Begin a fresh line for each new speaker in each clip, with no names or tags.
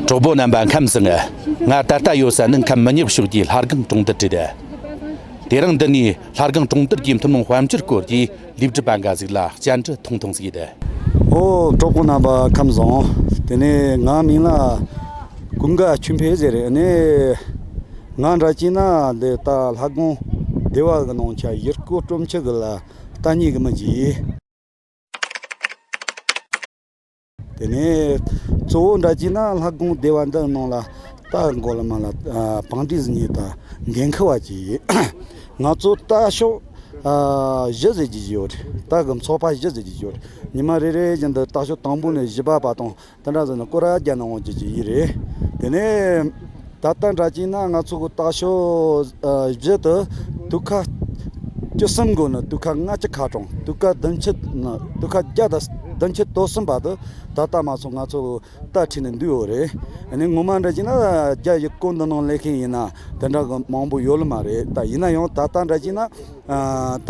གྲོགས་པོ་རྣམ་པ་ཁམས་ཟིན་ང་ད་ལྟ་ཡོད་ས་ནི་ཁམས་མི་ཉག་ཕྱོགས་ཀྱི་ལྷ་སྒང་གྲོང་རྡལ་གྲས་རེད་དེ་རིང་འདི་ནས་ལྷ་སྒང་གྲོང་རྡལ་གྱི་ཐུན་མོང་དཔལ་འབྱོར་སྐོར་གྱི་ལེགས་སྒྲིག་པ་འགའ་ཞིག་ལ་སྐྱེལ་འདྲི་ཐུང་ཐུང་བྱས་ཏེ། ཨོ་གྲོགས་
པོ་རྣམ་པ་ཁམས་བཟང། དེ་ནས་ང་མིང་ལ་ཀུན་དགའ་ཆོས་འཕེལ་ཟེར་རེད་ནས། ང་འདྲ་སྐྱིད་ན་འདི་ལྟ་ལྷ་སྒང་སྡེ་བ་གི་ནང་ཆ་གཞིར་བཀོད་སྤྲོ་འཆི་གི་ལ་རྟ་སྙིགས་མི་འཇིག། དེ་ནས་གཙོ་བོ་འདྲ་བགྱིས་ན་ལྷ་དགོངས་བདེ་བ་འདི་གནང་ལ་རྟ་མགོ་ལ་མ་ལ་བང་སྟེགས་སུ་ཉལ་དང་འགན་ཁུར་བ་བགྱིས་ཡོད། ང་ཚོ་རྟ་ཤོག་བཞི་བཟོས་ཀྱི་ཡོད། རྟ་གི་མཚོ་ཕ་བཞི་བཟོས་ཀྱི་ཡོད། ཉི་མ་རེ་རེ་བཞིན་དུ་རྟ་ཤོག་དང་པོ་ནས་བཞི་པ་བར་དང་དེ་འདྲ་བཟོས་ན་སྐོར་ར་བརྒྱ་ནང་བར་བགྱིས་ཀྱི་ཡོད་རེད། དེ་ནས། ད་ལྟ་འདྲ་བགྱིས་ན་ང་ཚོ་གོ་ལྟ་ཞོག་བཞི་དུ་དུ་ཁ་བཅུ་གསུམ་དགོས་ནི་དུ་ཁ་ལྔ་བཅུ་ཁ་གྲོངས་དུ་ཁ་བདུན་བཅུ་ནི་དུ་ཁ་བརྒྱ་དང་བདུན་བཅུ་དོག་གསུམ་པ་དུ་ད་ལྟ་མ་སོང་ང་ཚོ་གོ་ལྟ་ཁྲིད་ནི་འདུས་འོ་རེད་ནི་ངོ་མ་འདྲ་བགྱིས་ན་རྒྱ་ཡི་སྐོར་འདི་ནང་ལས་ཁེན་ཡིན་ན་དེ་འདྲ་གི་མང་པོ་ཡོད་ལ་མ་རེད་ད་ཡིན་ན་ཡང་ད་ལྟ་འདྲ་བགྱིས་ན་ད་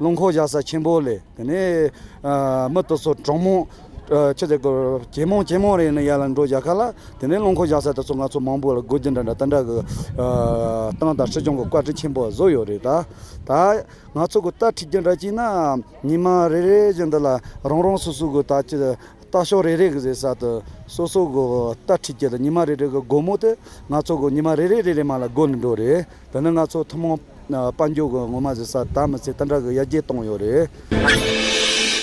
རླུང་འཁོར་བཞག་ས་ཆེན་པོ་ལས། དེ་ནས་མི་དེ་ཚོ་གྲོགས་མོ། ཁྱི་དེ་ཀོ། གྱེས་མོང་གྱེས་མོང་རེད་ནི་ཡར་ལ་འགྲོ་བཞག་ག་ལ། དེ་ནས་རླུང་འཁོར་བཞག་ས་དེ་ཚོ་ང་ཚོ་མང་པོ་ལ་དགོས་རྒྱུ་འདྲ་འདྲ་ལྟ་འདྲ་གི། ཏང་དང་སྲིད་སྐྱོང་གི་བཀའ་ཁྲི་ཆེན་པོ་བཟོ་ཡོད་རེད་ད། ད། ང་ཚོ་གི་ལྟ་ཁྲིད་རྒྱུ་འདྲ་གྱིས་ན། ཉིན་མ་རེ་རེ་བཞིན་འདི་ལ་རང་རང་སོ་སོ་གི་ད་ཀྱི། ལྟ་ཕྱོགས་རེ་རེ་གི་ཟེར་ས་དེ། སོ་སོ་གི་ལྟ་ཁྲིད་ཀྱི་ཉིན་མ་རེ་རེ་གི་སྒོ་མོ་དེ། ང་ཚོ་གི་ཉིན་མ་རེ་རེ་རེ་རེ་མ་ལ་སྒོ་ནས་འགྲོ་རེད། དེ་ནི་ང་ཚོ་ཐུན་མོང། དཔལ་འབྱོར་གྱི་ངོ་མ་བཟོས་ས་ད་མི་ཚེ་སྟར་འདྲ་གི་ཡར་རྒྱས་གཏོང་ཡོད་རེད།